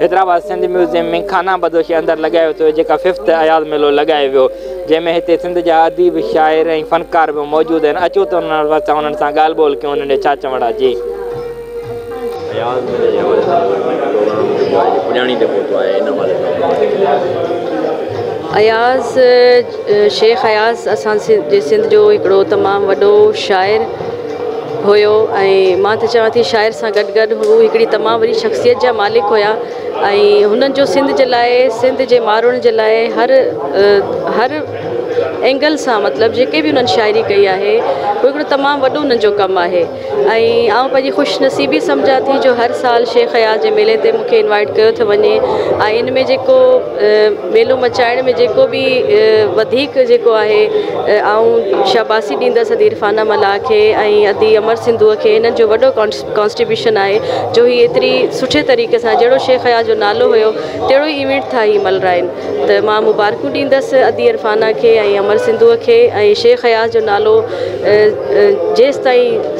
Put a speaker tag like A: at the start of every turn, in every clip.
A: Hyderabad Sindh museum ۾ خانه بدوشي اندر لڳايو ويو ٿو جيڪا ففٿ اياز ميلو لڳايو ويو جنهن ۾ هتي سنڌ جا اديب شاعر ۽ فنڪار به موجود آهن اچو ته انهن وس انهن سان ڳالهه ٻولهه ڪيون انهن جا ڇا چوڻ آهي جي اياز ميلي جي حوالي سان اگر ڪنهن کي ڳولڻو هجي آهي جو پڄاڻي تي پهتو آهي
B: ان حوالي سان ٻڌايو اياز شيخ اياز اسان جي سنڌ جو هڪڙو تمام وڏو شاعر هيو ۽ مان ته چوان ٿي شاعر سان گڏ گڏ هو هڪڙي تمام وڏي شخصيت جا مالڪ هيا ۽ هنن جو سنڌ جي لاء سنڌ جي ماڻهن جي لاء هر هر اينگل سان مطلب جيڪي به انهن شاعري ڪئي آهي هو هڪڙو تمام وڏو انهن جو ڪم آهي ۽ آئون پنهنجي خوش نصيبي سمجهان ٿي جو هر سال شيخ اياز جي ميلي تي مونکي انوائيٽ ڪيو ٿو وڃي ۽ ان ۾ جيڪو ميلو مچائڻ ۾ جيڪو به وڌيڪ جيڪو آهي آئون شاباسي ڏيندس ادي عرفانه ملاح کي ۽ ادي امر سنڌوء کي هنن جو وڏو ڪانسٽيبيوشن آهي جو هي ايتري سٺي طريقي سان جهڙو شيخ اياز جو نالو هيو تهڙو ئي ايونٽ ٿا هي ملرائين ته مان مبارڪون ڏيندس ادي عرفانه کي ۽ امر سنڌوء کي ۽ شيخ اياز جو نالو جيستائين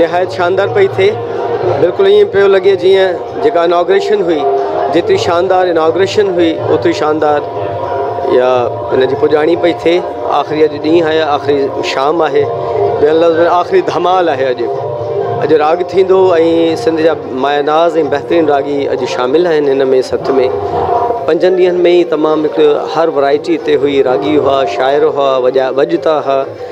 C: نهايت شاندار پئي ٿئي بلڪل ائين پيو لڳي جيئن جيڪا اناگريشن هئي جيتري شاندار اناگريشن هئي اوتري شاندار يا ان جي پڄاڻي پئي ٿئي آخري اڄ ڏينهن آهي آخري شام آهي ٻين لفظ ۾ آخري ڌمال آهي اڄ اڄ راڳ ٿيندو ۽ سنڌ جا مايا ناز ۽ بهترين راڳي اڄ شامل آهن هن ۾ سٿ ۾ پنجن ڏينهن ۾ ئي تمام هڪ هر ورائٽي تي هئي راڳي هئا شاعر هئا وڄا وڄتا هئا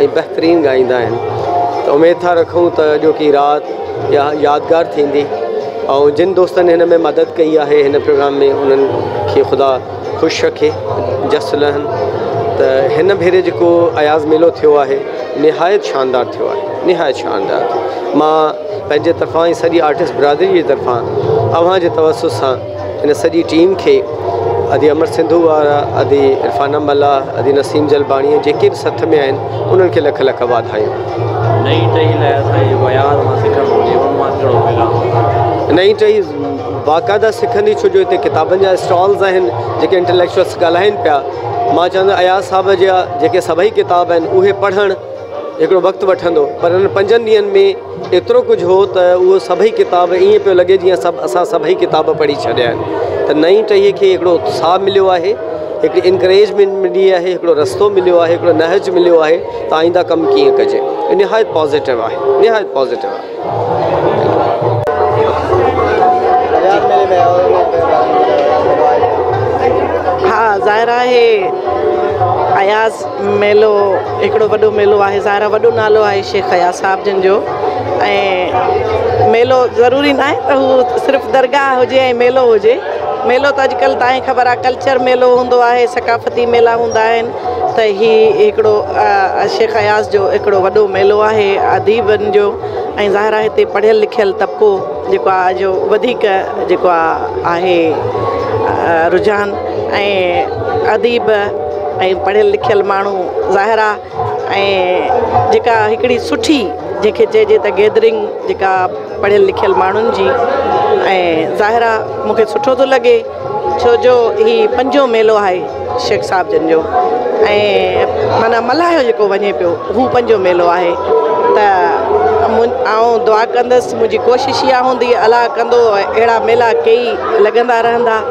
C: ۽ بهترين ڳائيندا آهن ته اميد ٿا رکون ته اڄوڪي رات يا يادگار ٿيندي ۽ جن دوستن هن ۾ مدد ڪئي آهي هن پروگرام ۾ انهن کي خدا خوش رکي جس لهن ته هن ڀيري جيڪو اياز ميلو ٿيو آهي نهايت شاندار ٿيو آهي نهايت شاندار مان پنهنجي طرفان ۽ سڄي آرٽسٽ برادري جي طرفان اوهان جي توسط سان هن سڄي ٽيم کي ادي امر سنڌو وارا ادي عرفان امل ادي نسيم جلباڻي جيڪي به سٿ ۾ آهن انهن کي لک لک واڌايون نئين ٽهي لاء اسان جي جيڪو اياز مان سکڻ گهرجي ان مان ڪهڙو پيغام نئين ٽهي باقاعده سکندي ڇو جو هتي ڪتابن جا اسٽالز آهن جيڪي انٽليڪچوئلس ڳالهائين پيا مان چاهندو اياز صاحب جا جيڪي سڀئي ڪتاب آهن اهي پڙهڻ هڪڙو وقت وٺندو پر ان پنجن ڏينهن ۾ ايترو ڪجهه هو ته اهو سڀئي ڪتاب ائين پيو لڳي جيئن سڀ اسان سڀئي ڪتاب پڙهي ڇڏيا آهن ته نئين ٽهيء کي هڪڙو اتساهه مليو آهي، هڪڙي انڪريجمينٽ ملي آهي، هڪڙو رستو مليو آهي، هڪڙو نهج مليو آهي ته آئينده ڪم ڪيئن ڪجي. نهايت پازيٽو آهي. نهايت پازيٽو آهي. ها ظاهر آهي اياز
D: ميلو هڪڙو وڏو ميلو آهي ظاهرا وڏو نالو آهي شيخ اياز صاحب جن جو ۽ ميلو ضروري نه آهي ته هو صرف درگاهه هجي ۽ ميلو هجي ميلو ته اڄڪلهه تائين خبر آهي ڪلچر ميلو هوندو آهي ثقافتي ميلا هوندا آهن ته هي هڪڙو شيخ اياز جو هڪڙو وڏو ميلو آهي اديبن جو ۽ ظاهرا هتي پڙهيل لکيل طبقو جيڪو آهي جو وڌيڪ جيڪو آهي آهي رجحان ۽ اديب ۽ پڙهيل لکيل ماڻهو ظاهر آ ۽ جيڪا هڪڙي سٺي جنهن کي چئجي ته گيدرنگ جيڪا پڙهيل لکيل ماڻهن جي ۽ ظاهر آ مون کي سٺو ٿو لڳي ڇو جو هي پنجو ميلو آهي شيخ صاحب جن جو ۽ معنيٰ ملهايو جيڪو وڃي پيو هو پنجو ميلو آهي ته آئون دعا ڪندس منهنجي ڪوشش اها هوندي الاهه ڪندو اهڙا ميلا ڪئي لڳندا رهندا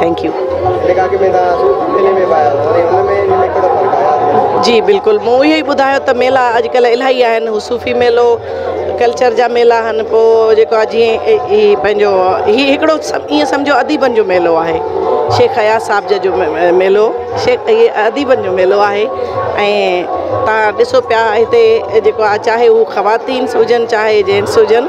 D: ٿينڪ يو جي بلڪل مون اهو ئي ٻڌايو ته ميلا اڄڪلهه الاهي آهن هو صوفي ميلو ڪلچر جا ميلا آهن پو جيڪو آ جي هي پنهنجو هي هڪڙو ايئن سمجهو اديبن جو ميلو آهي شيخ اياز صاحب جي جو ميلو شيخ هي اديبن جو ميلو آهي ۽ تان ڏسو پيا هتي جيڪو آ چاهي هو خواتين سوجن چاهي جينس هجن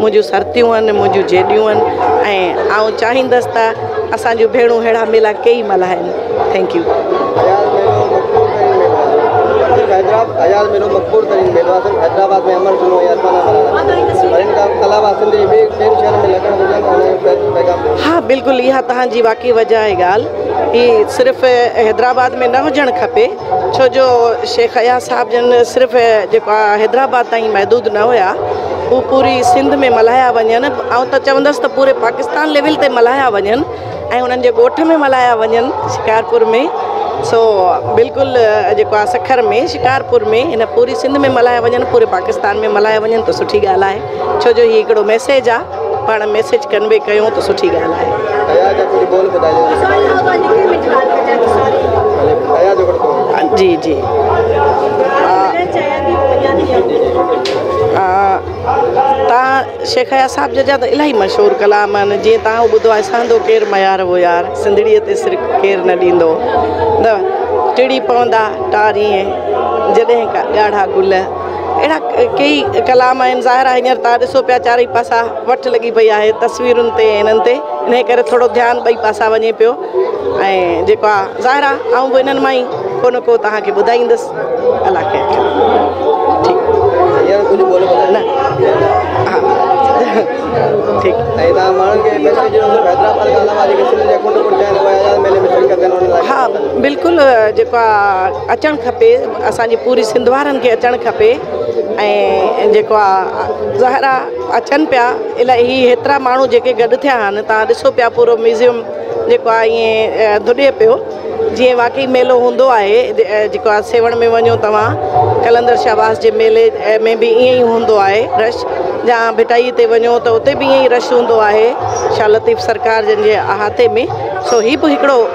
D: منهنجون سرتيون آهن، منهنجون جيڏيون آهن ۽ آئون چاهيندس ته اسان جون ڀيڻون ههڙا ميلا ڪيئي ملهائن. Thank you.
C: ها بلڪل
D: اها توهان جي واقعي وجاهه ڳالهه هي صرف حيدرآباد ۾ نه هجڻ کپي. ڇو جو شيخ اياز صاحب جن صرف جيڪو آ حيدرآباد تائين محدود نه هيا هو پوري سنڌ ۾ ملهايا وڃن آئون ته چوندس ته پوري پاڪستان ليول تي ملهايا وڃن ۽ انهن جي ڳوٺ ۾ ملهايا وڃن شڪارپور ۾ سو بلڪل جيڪو آ سکر ۾ شڪارپور ۾ ان پوري سنڌ ۾ ملهايا وڃن پوري پاڪستان ۾ ملهايا وڃن ته سٺي ڳالهه آهي ڇو جو هي هڪڙو ميسيج آ پاڻ ميسيج ڪنوي ڪيو ته سٺي ڳالهه آهي. ايا جا ڪجهه ٻول ٻڌايو ايا جو ڪجهه ٻول. جي جي آ تان شيخ اياز صاحب جا ته الاهي مشهور ڪلام آهن جيئن تان هو ٻڌو آهي سهندو ڪير ميار هو يار سنڌڙيء تي سر ڪير نه ڏيندو نه ٽڙي پوندا ٽارينء جڏهن ڪا ڳاڙها گل اهڙا ڪيئي ڪلام آهن ظاهر آهي هينئر تان ڏسو پيا چارئي پاسا وٺ لڳي پئي آهي تصويرن تي انهن تي انهي ڪري ٿورو ڌيان ٻئي پاسا وڃي پيو ۽ جيڪو آهي ظاهر آهي آئون به انهن مان ئي ڪو نه ڪو تهان کي ٻڌائيندس الله خير ڪري اچڻ کپي اسان جي پوري سنڌ وارن کي اچڻ کپي ۽ جيڪو آ زهرا اچن پيا الائي هي هيترا ماڻهو جيڪي گڏ ٿيا آهن تان ڏسو پيا پورو ميوزيم جيڪو آ ايئن ڌڏي پيو جيئن واقعي ميلو هوندو آهي جيڪو آ سيوهڻ ۾ وڃو توهان قلندر شاباس جي ميلي ۾ به ايئن ئي هوندو آهي رش جا ڀٽائي تي وڃو ته اتي به ايئن ئي رش هوندو آهي شاهه لطيف سرڪار جن جي احاطي ۾ سو هي به هڪڙو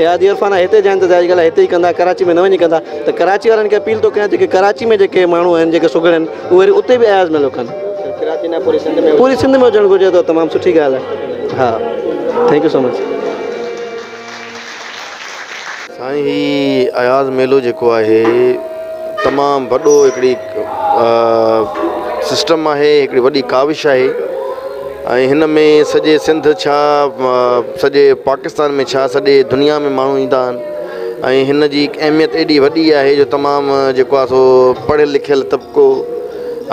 E: احادي عرفانه هتي جا انتظار جي ڳالهه هتي ئي ڪندا ڪراچي ۾ نه وڃي ڪندا ته ڪراچي وارن کي اپيل ٿو ڪيان جيڪي ڪراچي ۾ جيڪي ماڻهو آهن جيڪي سگهڙ آهن اهي وري اتي به اياز ميلو ڪن ڪراچي نه پوري سنڌ ۾ پوري سنڌ ۾ هجڻ گهرجي ته تمام سٺي ڳالهه آهي ها ٿينڪ يو سو مچ
F: سائين هي اياز ميلو جيڪو آهي تمام وڏو هڪڙي سسٽم آهي هڪڙي وڏي ڪاوش آهي ۽ هن ۾ سڄي سنڌ ڇا سڄي پاڪستان ۾ ڇا سڄي دنيا ۾ ماڻهو ايندا آهن ۽ هن جي اهميت ايڏي وڏي آهي جو تمام جيڪو آهي سو پڙهيل لکيل طبقو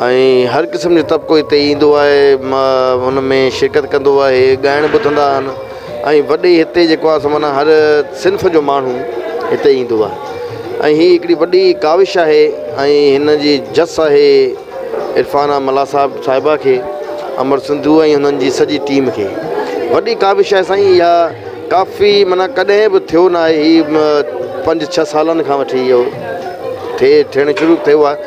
F: ۽ هر قسم جو طبقو هتي ايندو آهي هن ۾ شرڪت ڪندو آهي ڳائڻ ٻڌندا آهن ۽ وڏي هتي جيڪو آهي سو معنيٰ هر صنف جو ماڻهو هتي ايندو آهي ۽ هي هڪڙي وڏي ڪاوش آهي ۽ هن جي جس آهي عرفان آ ملاح صاحب صاحبه کي امر سنڌوء ۽ هنن جي سڄي ٽيم کي وڏي ڪاوش آهي سائين اها ڪافي معنيٰ ڪڏهن به ٿيو ناهي هي پنج ڇهه سالن کان وٺي اهو ٿئي ٿيڻ شروع ٿيو آهي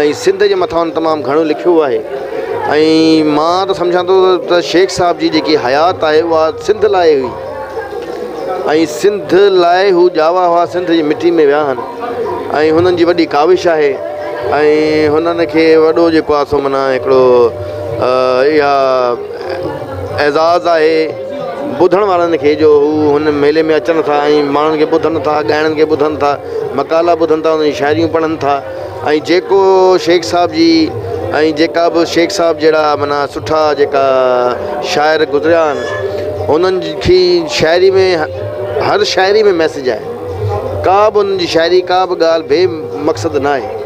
F: ۽ سنڌ جي مٿان تمام گهڻو لکيو آهي ۽ مان ته سمجهان ٿو ته شيخ صاحب جي جيڪي حيات آهي اها سنڌ لاء هئي ۽ سنڌ لاء هو ڄاوا هئا سنڌ جي مٽي ۾ ويا آهن ۽ هنن جي وڏي ڪاوش آهي ۽ هنن کي وڏو جيڪو آهي سو منا هڪڙو اها اعزاز آهي ٻڌڻ وارن کي جو هو هن ميلي ۾ اچن ٿا ۽ ماڻهن کي ٻڌن ٿا ڳائڻن کي ٻڌن ٿا مقالا ٻڌن ٿا، انهن جون شاعريون پڙهن ٿا ۽ جيڪو شيخ صاحب جي ۽ جيڪا به شيخ صاحب جهڙا معنيٰ سٺا جيڪا شاعر گذريا آهن انهن جي شاعري ۾ هر شاعري ۾ ميسج آهي ڪا به انهن جي شاعري ڪا به ڳالهه بي مقصد ناهي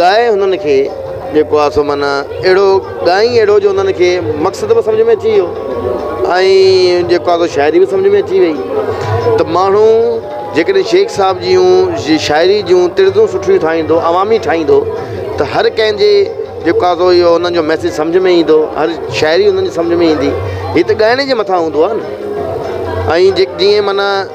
F: ڳائي هنن کي جيڪو آ سو معنيٰ اهڙو ڳائين اهڙو جو هنن کي مقصد به سمجهه ۾ اچي ويو ۽ جيڪو آ سو شاعري به سمجهه ۾ اچي وئي ته ماڻهو جيڪڏهن شيخ صاحب جيون جي شاعري جون تڙدون سٺيون ٺاهيندو عوامي ٺاهيندو ته هر ڪنهن جي جيڪو آ سو اهو هنن جو ميسيج سمجهه ۾ ايندو هر شاعري هنن جي سمجهه ۾ ايندي هي ته ڳائڻي جي مٿان هوندو آ نه ۽ جيڪ جيئن معنيٰ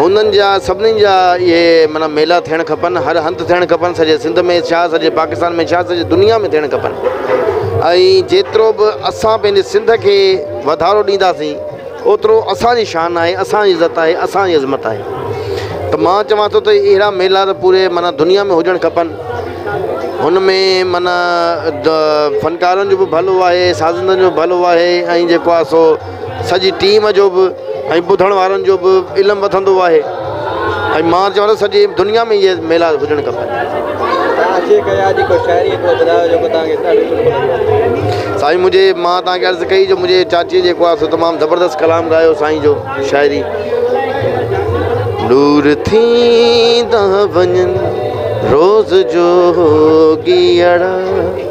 F: هنن جا سڀني جا اهي معنيٰ ميلا ٿيڻ کپن هر هنڌ ٿيڻ کپن سڄي سنڌ ۾ ڇا سڄي پاڪستان ۾ ڇا سڄي دنيا ۾ ٿيڻ کپن ۽ جيترو به اسان پنهنجي سنڌ کي وڌارو ڏينداسين اوترو اسان جي شان آهي اسان جي عزت آهي اسان جي عظمت آهي ته مان چوان ٿو ته اهڙا ميلا ته پوري معنيٰ دنيا ۾ هجڻ کپن هن ۾ معنيٰ فنڪارن جو به ڀلو آهي سازندن جو ڀلو آهي ۽ جيڪو آهي سو سڄي ٽيم جو به ۽ ٻڌڻ وارن جو به علم وڌندو آهي ۽ مان چوان ٿو سڄي دنيا ۾ اهي ميلا هجڻ سائين منهنجي مان توهان کي عرض ڪئي جو منهنجي چاچي جيڪو آهي سو تمام زبردست ڪلام ڳايو سائين جو شاعري نور ٿيندا وڃن روز جوڳي اڙا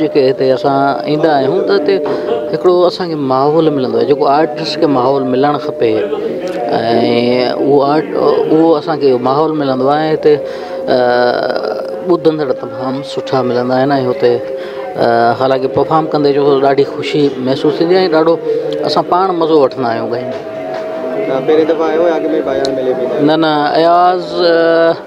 G: جيڪي هتي اسان ايندا آهيون ته هتي هڪڙو اسان کي ماحول ملندو آهي جيڪو آرٽس کي ماحول ملڻ کپي ۽ اهو آرٽ اهو اسان کي ماحول ملندو آهي ۽ هتي ٻڌندڙ تمام سٺا ملندا آهن ۽ هتي حالانڪه پرفام ڪندي جو ڏاڍي خوشي محسوس ٿيندي آهي ڏاڍو اسان پاڻ مزو وٺندا آهيون ڳائيندي نه نه
E: اياز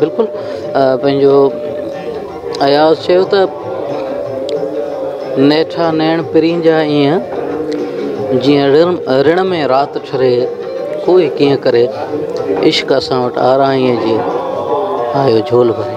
G: بلڪل پنهنجو اياز چيو ته نيٺا نيڻ پرين جا ايئن جيئن رڻ رڻ ۾ رات ٺري ڪوئي ڪيئن ڪري عشق اسان وٽ آرائين جي آيو جھول ڀري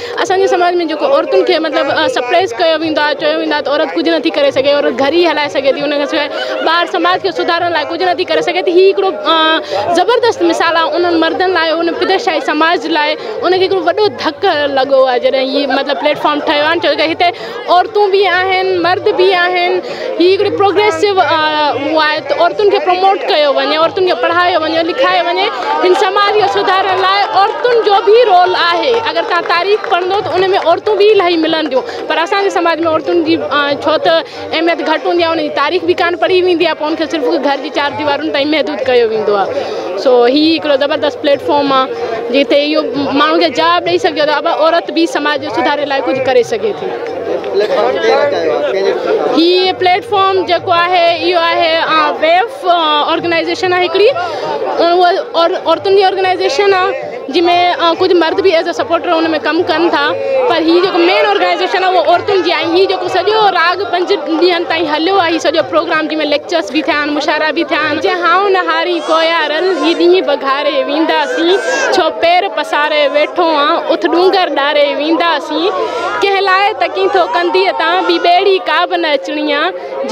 H: اسان جي سماج ۾ جيڪو عورتن کي مطلب سپريس ڪيو ويندو آهي چيو ويندو آهي ته عورت ڪجهه نٿي ڪري سگهي عورت گهر ئي هلائي سگهي ٿي ان کان سواء ٻاهر سماج کي سڌارڻ لاء ڪجهه نٿي ڪري سگهي ٿي هي هڪڙو زبردست مثال آهي انهن مردن لاء ان پدر شاهي سماج لاء ان کي هڪڙو وڏو ڌڪ لڳو آهي جڏهن هي مطلب پليٽ فارم ٺهيو آهي ڇو ڪري هتي عورتون به آهن مرد به آهن هي هڪڙي پروگريسو هو آهي ته عورتن کي پروموٽ ڪيو وڃي عورتن کي پڙهايو وڃي لکايو وڃي هن سماج کي سڌارڻ لاء عورتن جو به رول آهي اگر تان تاريخ پڙهندو ته ان ۾ عورتون به الاهي ملنديون پر اسانجي سماج ۾ عورتن جي ڇو ته اهميت گهٽ هوندي آهي ان جي تاريخ به ڪانه پڙهي ويندي آهي پو ان کي صرف گهر جي چار ديوارن تائين محدود ڪيو ويندو آهي سو هي هڪڙو زبردست پليٽ فارم آ جتي اهو ماڻهن کي جواب ڏئي سگهجي ٿو ته عورت به سماج جي سڌاري لاء ڪجهه ڪري سگهي ٿي. هي پليٽ فارم جيڪو آهي اهو آهي ويف آرگنائيزيشن آهي هڪڙي عورتن جي آرگنائيزيشن آ. جنهن ۾ ڪجهه مرد به ايز اي سپورٽر ان ۾ ڪم ڪن ٿا پر هي جيڪو مين آرگنائيزيشن آهي اهو عورتن جي آهي هي جيڪو سڄو راڳ پنج ڏينهن تائين هليو آهي هي سڄو پروگرام جنهن ۾ ليڪچرس به ٿيا آهن مشاعرا به ٿيا آهن جي هائو نه هارين ڪويا رل هي ڏينهن بگهاري ويندا سين ڇو پير پساري ويٺو آن اٿ ڏونگر ڏاري ويندا سين ڪنهن لاء تڪين ٿو ڪنديء تان ٻي ٻيڙي ڪا به نه اچڻي آ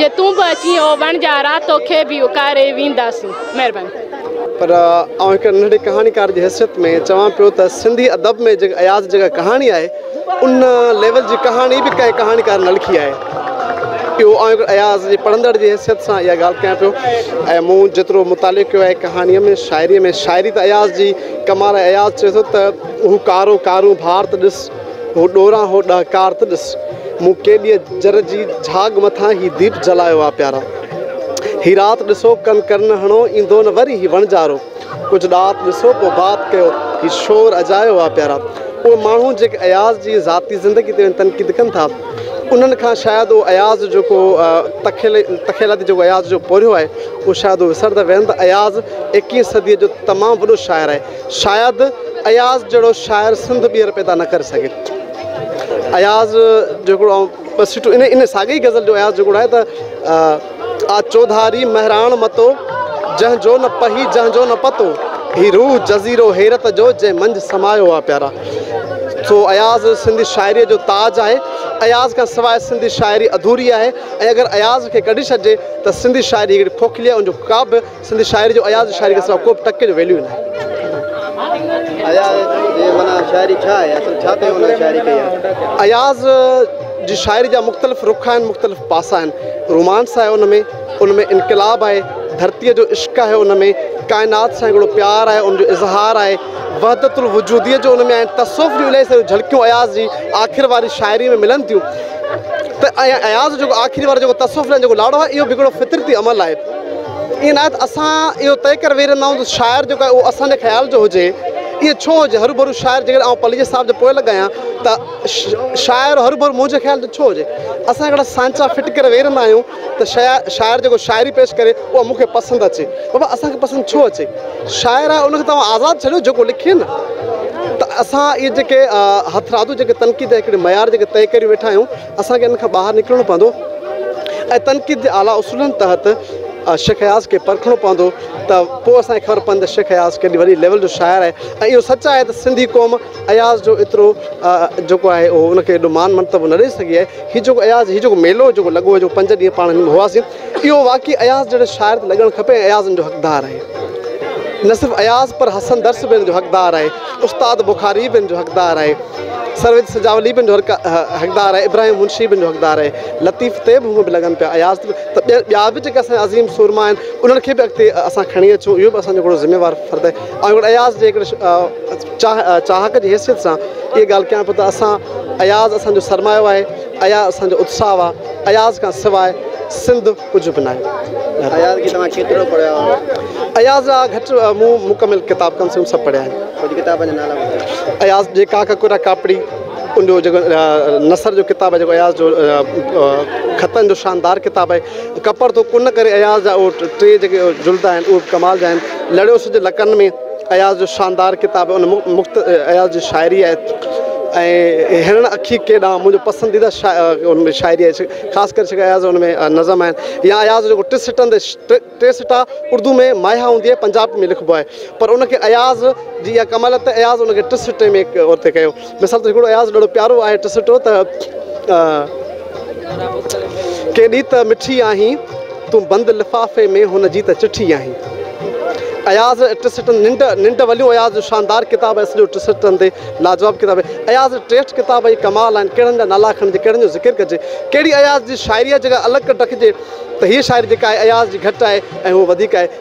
H: جي تون به اچين او وڻجا را توکي به اڪاري ويندا سين مهرباني. پر
E: آئون هڪ ننڍڙي ڪهاڻيڪار جي حيثيت ۾ چوان پيو ته سنڌي ادب ۾ جيڪا اياز جيڪا ڪهاڻي آهي ان ليول جي ڪهاڻي به ڪنهن ڪهاڻيڪار نه لکي آهي اهو آئون هڪڙو اياز جي پڙهندڙ جي حيثيت سان اها ڳالهه ڪيان پيو ۽ مون جيترو مطالعو ڪيو آهي ڪهاڻيء ۾ شاعريء ۾ شاعري ته اياز جي ڪمال اياز چوي ٿو ته هو ڪارو ڪارون ڀار ته ڏس هو ڏوران هو ڏهڪار ته ڏس. مون ڪيڏيء جر جي جهاڳ مٿان هي ديپ جلايو آ پيارا. هي رات ڏسو ڪن ڪرن هڻو ايندو نه وري هي وڻجارو. ڪجهه ڏات ڏسو پوء بات ڪيو. هي شور اجايو آ پيارا. اهي ماڻهو جيڪي اياز جي ذاتي زندگي تي تنقيد ڪن ٿا انهن کان شايد اهو اياز جو ڪو تخيلاتي جيڪو اياز جو پورهيو آهي اهو شايد اهي وسرندا ويهن ته اياز ايڪيهين صديء جو تمام وڏو شاعر آهي. شايد اياز جهڙو شاعر سنڌ ٻيهر پيدا نه ڪري سگهي. اياز جهڙو آئون ٻه سٽون ان ان ساڳي ئي غزل جو اياز جهڙو آهي ته آ چوڌاري مهراڻ متو جنهن جو نه پهي جنهن جو نه پتو هي روح جزيرو حيرت جو جنهن منجهه سمايو آ پيارا سو اياز سنڌي شاعري جو تاج آهي اياز کان سواء سنڌي شاعري اڌوري آهي ۽ اگر اياز کي ڪڍي ڇڏجي ته سنڌي شاعري هڪڙي کوکلي آهي ان جو ڪا به سنڌ شاعري جو اياز جي شاعري کي سواء ڪوبه ٽڪي جو ويليو ئي ناهي. اياز جي معنيٰ شاعري ڇا آهي؟ اصل ڇا تنهن هن شاعري ڪئي آهي؟ اياز جي شاعري جا مختلف رخ آهن، مختلف پاسا آهن. رومانس آهي ان ۾، ان ۾ انقلاب آهي، ڌرتيء جو عشق آهي ان ۾، ڪائنات سان هڪڙو پيار آهي، ان جو اظهار آهي، وحدت الوجوديء جو ان ۾ آهن، تصوف جون الائي ساريون جهلڪيون اياز جي آخر واري شاعريء ۾ ملن ٿيون ته اياز جو جيڪو آخري وارو جيڪو تصوف لاء جيڪو لاڙو آهي اهو به هڪڙو فطرتي عمل آهي. ائين ناهي ته اسان اهو طئي ڪري ويهي رهندا آهيون ته شاعر جيڪو آهي اهو اسان جي خيال جو هجي. ائين ڇو هجي؟ هروڀرو شاعر جيڪڏهن آئون پليجي صاحب جي پوء لڳ آهيان ته شاعر هروڀرو منهنجي خيال جو ڇو هجي؟ اسان هڪڙا سانچا فٽ ڪري ويهي رهندا آهيون ته شاعر جيڪو شاعري پيش ڪري اها مون کي پسند اچي. بابا اسان کي پسند ڇو اچي؟ شاعر آهي ان کي ته اوهان آزاد ڇڏيو جيڪو لکي نه. ته اسان اهي جيڪي هٿرادو جيڪي تنقيد هڪڙي معيار جيڪي طئي ڪري ويٺا آهيون. اسان کي ان کان ٻاهر نڪرڻو پوندو ۽ تنقيد جي اعليٰ اصولن تحت شيخ اياز کي پرکڻو پوندو ته پوء اسان کي خبر پوندي ته شيخ اياز ڪيڏي وڏي ليول جو شاعر آهي ۽ اهو سچ آهي ته سنڌي قوم اياز جو ايترو جيڪو آهي اهو ان کي ايڏو مان مرتبو نه ڏئي سگهي آهي هي جيڪو اياز هي جيڪو ميلو جيڪو لڳو هو جيڪو پنج ڏينهن پاڻ هن ۾ هئاسين اهو واقعي اياز جهڙي شاعر تي لڳڻ کپي ۽ اياز ان جو حقدار آهي. نه صرف اياز پر حسن درس به ان جو حقدار آهي، استاد بخاري به ان جو حقدار آهي، سرويچ سجاولي به ان جو حقدار آهي، ابراهيم منشي به ان جو حقدار آهي. لطيف تي به هونئن به لڳن پيا، اياز تي به ته ٻيا ٻيا به جيڪي اسان جا عظيم سورما آهن، انهن کي به اڳتي اسان کڻي اچون، اهو به اسان جو هڪڙو ذميوار فرض آهي. آئون هڪڙو اياز جي هڪڙي چاهه چاهڪ جي حيثيت سان اها ڳالهه ڪيان پيو ته اسان اياز اسان جو سرمايو آهي. اها اسان جو اتساهه آهي. اياز کان سواء سنڌ ڪجهه به ناهي. اياز کي توهان ڪيترو پڙهيو آهي؟ اياز جا گهٽ مون مڪمل ڪتاب ڪم سي ڪم سڀ پڙهيا آهن. ڪجهه ڪتابن جا نالا
C: ٻڌايو. اياز جي ڪاڪ
E: ڪرا ڪاپڙي ان جو جيڪو نثر جو ڪتاب آهي جيڪو اياز جو خطن جو شاندار ڪتاب آهي. ڪپر ٿو ڪن ڪري اياز جا اهي ٽي جيڪي جلد آهن اهي به ڪمال جا آهن. لڙيو سج لڪن ۾. اياز جو شاندار ڪتاب ان مخت اياز جي شاعري آهي ۽ هرڻ اکي ڪي ڏانهن منهنجو پسنديده ان ۾ شاعري آهي خاص ڪري شڪا اياز ان ۾ نظم آهن يا اياز جو ٽي سٽن تي ٽي سٽا اردو ۾ ماهيا هوندي آهي پنجاب ۾ لکبو آهي پر ان کي اياز جي يا ڪمال الطيف اياز ان کي ٽي سٽي ۾ اتي ڪيو مثال طور هڪڙو اياز ڏاڍو پيارو آهي ٽسٽو ته ڪي ڏي ته مٺي آهين تون بند لفافي ۾ هن جي ته چٺي آهين اياز ٽسٽن ننڊ ننڊ وليون اياز جو شاندار ڪتاب آهي سڄو ٽسٽن تي لاجواب ڪتاب آهي اياز ٽيسٽ کتاب اهي ڪمال آهن ڪهڙن جا نالا کڻجي ڪهڙن جو ذڪر ڪجي ڪهڙي اياز جي شاعري جي ڪا الڳ ڪٽ رکجي ته هيء شاعري جيڪا آهي اياز جي گهٽ آهي ۽ هوء وڌيڪ آهي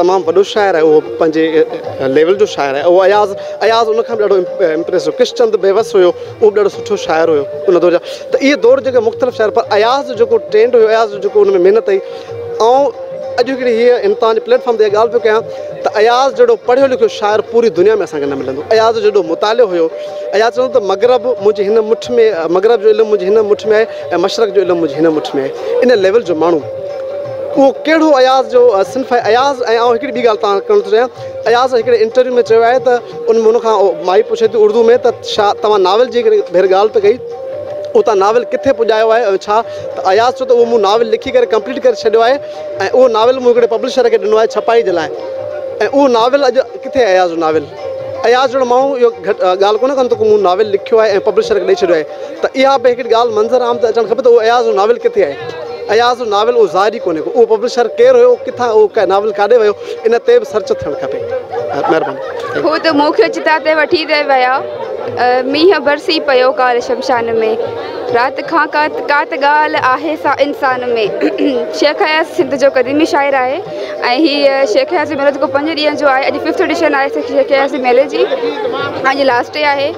E: تمام وڏو شاعر آهي اهو پنهنجي ليول جو شاعر آهي اهو اياز اياز ان کان به ڏاڍو امپريس هو ڪرشن چند بيوس هيو اهو به ڏاڍو سٺو شاعر هيو ان دور جا ته اهي دور جيڪي مختلف شاعر پر اياز جو جيڪو ٽرينڊ هيو اياز جو جيڪو ان ۾ محنت هئي آئون اڄ هڪڙي هيء ان توهان جي پليٽ فارم تي ڳالهه پيو ڪيان ته اياز جهڙو پڙهيو لکيو شاعر پوري دنيا ۾ اسان کي نه ملندو اياز جهڙو مطالعو هيو اياز چوندو ته مغرب منهنجي هن مٺ ۾ مغرب جو علم منهنجي هن مٺ ۾ آهي ۽ مشرق جو علم هجي هن مٺ ۾ ان ليول جو ماڻهو اهو ڪهڙو اياز جو صنف آهي اياز ۽ آئون هڪڙي ٻي ڳالهه تان ڪرڻ ٿو چاهيان اياز هڪڙي انٽرويو ۾ چيو آهي ته ان هن کان مائي پڇي ٿي اردو ۾ ته شا توهان ناول جي هڪڙي ڀير ڳالهه ته ڪئي او تان ناول ڪٿي پڄايو آهي ۽ ڇا ته اياز چيو ته اهو مون ناول لکي ڪري ڪمپليٽ ڪري ڇڏيو آهي ۽ اهو ناول مون هڪڙي پبلشر کي ڏنو آهي ڇپائي جي لاء ۽ اهو ناول اڄ ڪٿي اياز جو ناول اياز جهڙو ماڻهو اهو گهٽ ڳالهه ڪونه ڪندو ڪو مون ناول لکيو آهي ۽ پبلشر کي ڏئي ڇڏيو آهي ته اها به هڪڙي ڳالهه منظر عام تي اچڻ کپي ته اهو اياز جو ناول ڪٿي آهي؟ اياز جو ناول اهو ظاهر ئي ڪونهي ڪو اهو پبلشر ڪير هيو ڪٿان اهو ناول ڪاڏي ويو ان تي به سرچ ٿيڻ کپي مهرباني. هو ته مون کي
I: چتا تي وٺي ته ويا. مينهن برسي پيو ڪالهه شمشان ۾. رات کان ڪا ڪا ته ڳالهه آهي سا انسان ۾. شيخ اياز سنڌ جو قديمي شاعر آهي ۽ هي شيخ اياز جو ميلو جيڪو پنج ڏينهن جو آهي اڄ ففٿ ايڊيشن آهي شيخ اياز جي ميلي جي اڄ لاسٽ ڊي آهي.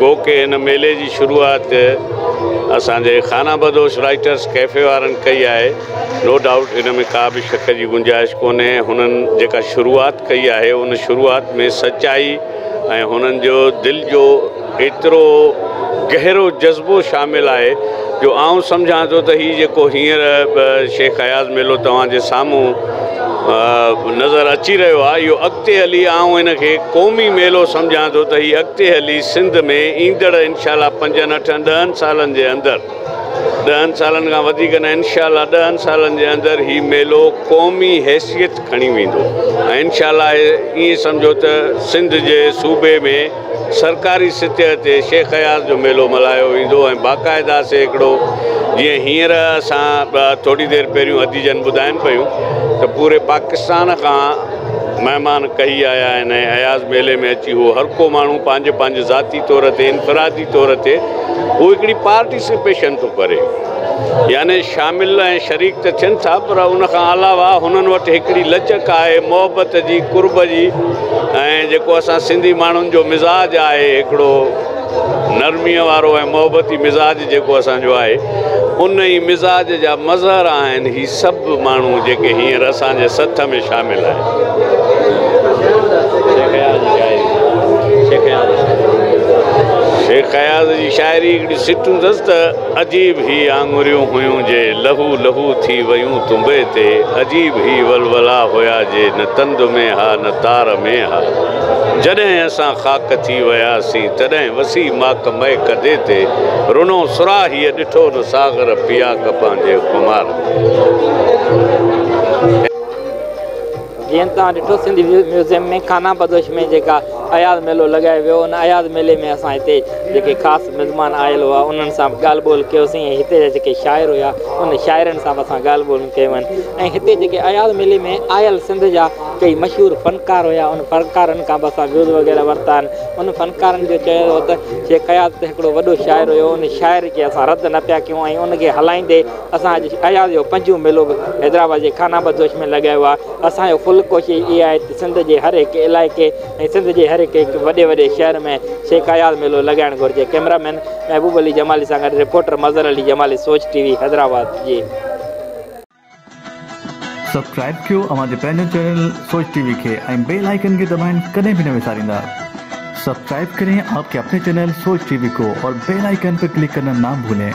J: گو ڪي هن ميلي جي شروعات اسان جي خانه بدوش رائيٽرس ڪيفي وارن ڪئي آهي نو ڊائوٽ ان ۾ ڪا به شڪ جي گنجائش ڪونهي هنن جيڪا شروعات ڪئي آهي ان شروعات ۾ سچائي ۽ هنن جو دل جو ايترو گهرو جذبو شامل آهي جو آئون سمجهان ٿو ته هي جيڪو هينئر شيخ اياز ميلو توهان جي سامهون نظر اچي رهيو آهي اهو اڳتي هلي آئون ان کي قومي ميلو سمجهان ٿو ته هي اڳتي هلي سنڌ ۾ ايندڙ انشاء الله پنجن اٺن ڏهن سالن جي اندر ڏهن سالن کان وڌيڪ نه انشاء الله ڏهن سالن جي اندر هي ميلو قومي حيثيت کڻي ويندو ۽ انشاء الله ائين سمجهو ته سنڌ جي صوبي ۾ سرڪاري سطح تي شيخ اياز جو ميلو ملهايو ويندو ۽ باقاعده سيڪڙو جيئن هينئر اسان ٿوري دير پهريون ادي جن ٻڌاين پيون ته پوري پاڪستان کان مهمان ڪهي آيا آهن ۽ اياز ميلي ۾ اچي هو هر ڪو ماڻهو پنهنجي پنهنجي ذاتي طور تي انفرادي طور تي هو هڪڙي پارٽيسپيشن ٿو ڪري. يعني شامل ۽ شريڪ ته ٿين ٿا پر ان کان علاوه هنن وٽ هڪڙي لچڪ آهي محبت جي قرب جي ۽ جيڪو اسان سنڌي ماڻهن جو مزاج آهي هڪڙو نرمي وارو ۽ محبتي مزاج جيڪو اسان جو آهي ان ئي مزاج جا مظهر آهن هي سڀ ماڻهو جيڪي هينئر اسان جي سٿ ۾ شامل آهن. شيخ اياز جي شاعري هڪڙي سٽون اٿس ته. عجيب هي آڱريون هيون جي لهو لهو ٿي ويون تنبي تي عجيب هي ولولا هيا جي نه تند ۾ ها نه تار ۾ ها جڏهن اسان خاڪ ٿي وياسين تڏهن وسي ماڪ مئي ڪدي تي رنو سراهيء ڏٺو نه ساغر پياڪ پنهنجي خمار ۾
A: جيئن توهان ڏٺو سنڌ ميوزيم ۾ خانه بدوش ۾ جيڪا اياز ميلو لڳايو ويو ان اياز ميلي ۾ اسان هتي جيڪي خاص مزمان آيل هئا انهن سان به ڳالهه ٻولهه ڪيوسين ۽ هتي جا جيڪي شاعر هيا انهن شاعرن سان به اسان ڳالهه ٻولهيون ڪيون آهن ۽ هتي جيڪي اياز ميلي ۾ آيل سنڌ جا ڪئي مشهور فنڪار هيا انهن فنڪارن کان به اسان ويوز وغيره ورتا آهن انهن فنڪارن جو چيو ويو ته شيخ اياز ته هڪڙو وڏو شاعر هيو ان شاعر کي اسان رد نه پيا ڪيون ۽ ان کي هلائيندي اسان اڄ اياز جو پنجون ميلو به حيدرآباد جي خان آباد جوش ۾ لڳايو آهي. اسان جو ڪل ڪوشش اها آهي ته سنڌ جي هر هڪ علائقي ۽ سنڌ جي هر هڪ هڪ وڏي وڏي شهر ۾ شيخ اياز ميلو لڳائڻ گهرجي. ڪئميرا مين محبوب علي جمالي سان گڏ reporter Mazhar Ali Jamali Soch T V Hyderabad جي.
K: سبسڪرائب ڪيو اوهان جي پنهنجو چينل سوچ ٽي وي کي ۽ بيل آئيڪن کي دٻائڻ ڪڏهن به نه وساريندا سبسڪرائب ڪرين آپڪي اپني چينل سوچ ٽي وي ڪو اور بيل آئيڪن پي ڪلڪ ڪرنا نا ڀولين.